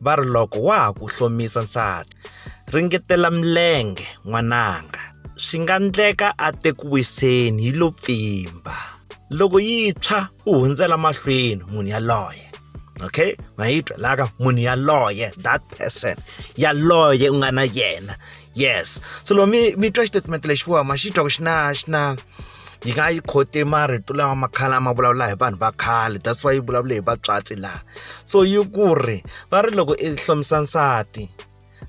va ri loko wa ha ku hlomisa nsati ringetela milenge n'wananga swi nga ndleka a te ku wiseni yi lo pfimba loko yi tshwa u hundzela mahlweni munhu yaloye okay mayitwa laka munhu yaloye that person yaloye u nga na yena yes so loko mi mi twa xitatimende lexiwa ma xi twa ku xi na xi na yi nga yi khote marito lama makhale a ma vulavula hi vanhu va khale that's why yi vulavule hi vatswatsi laha so yi ku ri va ri loko i hlomisa nsati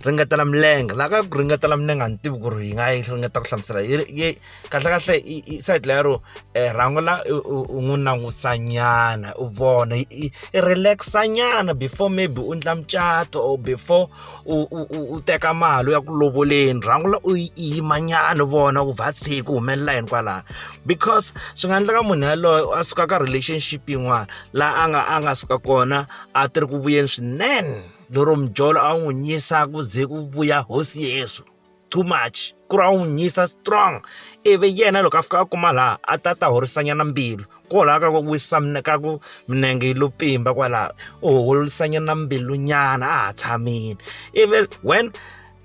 ringetela milenge la ka ku ringetela milenge a ni tivi ku ri yi nga yi ringeta ku hlamusela yi kahlekahle i side lero um rhango la u n'wi langusanyana u vona i relax-anyana before maybe u endla mucato or before u u u u teka mali u ya ku lovoleni rhangula u yi yimanyana vona ku vhathi ku humelela yini kwalano because swi nga endleka munhu yaloye a suka ka relationship yin'wana laha a nga a nga suka kona a ti ri ku vuyeni swinene lero mijolo a wu n'wi nyisa ku ze ku vuya hosi yeso. too much ku ri a n'wi nyisa strong ivi yena loko a fika a kuma laha a ta ta horisanyana mbilu kwalaho ka ku wisa ka ku minenge yi lo pfimba kwalaho u horisanyana mbilunyana a ha tshamile ivi when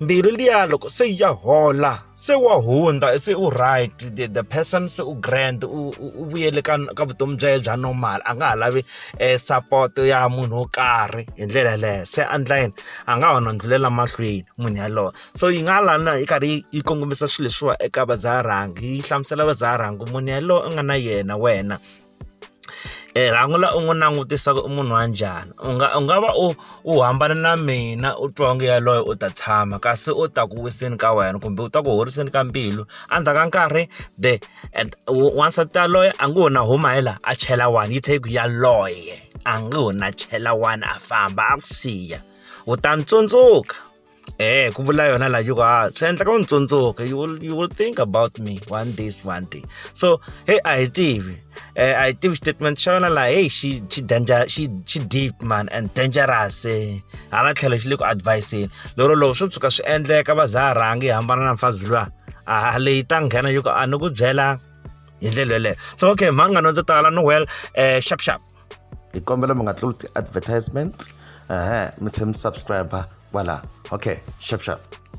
mbilu liya loko se ya hola se wa hundza se u right the, the person se u grand u vuyele ka ka vutomi bya yena bya normal a nga ha lavi eh, support ya munhu wo karhi hi ndlela yeleyo se andla yini a nga ha nondzelela mahlweni munhu yaloye so yi nga lana yi karhi yi kongomisa swilo leswiwa eka vadzaharhangi yi hlamusela vadzaharhangi munhu yaloye u nga na yena wena Eh, rhangu la u n'wi langutisaka i munhu wa njhani u nga u nga va u u hambana na mina u twa onge yaloye u ta tshama kasi u ta ku wiseni ka wena kumbe u ta ku horiseni ka mbilu endzhaku ka nkarhi the wansati yaloye a ngo ho na huma hi laha a chela one yi tlhe yi ku yaloye a nga ho na chela wani a famba a ku siya u ta ni tsundzuka eh ku vula yona la yuko ha swi endleka u ni tsundzuka you will, you will think about me one days one day so hey a hi tivi eh, a hi tivi statement xa yona laha hey xi xi danger xi xi deep man and dangerous eh. hala tlhelo xi le ku adviseni lero loko swo tshuka swi endleka va za rhangi hambana na mfazi luya a leyi ta nghena yuko a ni ku byela hi ndlela yeleyo so okay mhangano ndzi tala noel um eh, sharp sharp hi kombela mi nga tluli ti-advertisement ehe mi tlhe mi subscribe kwalaho okay sharp sharp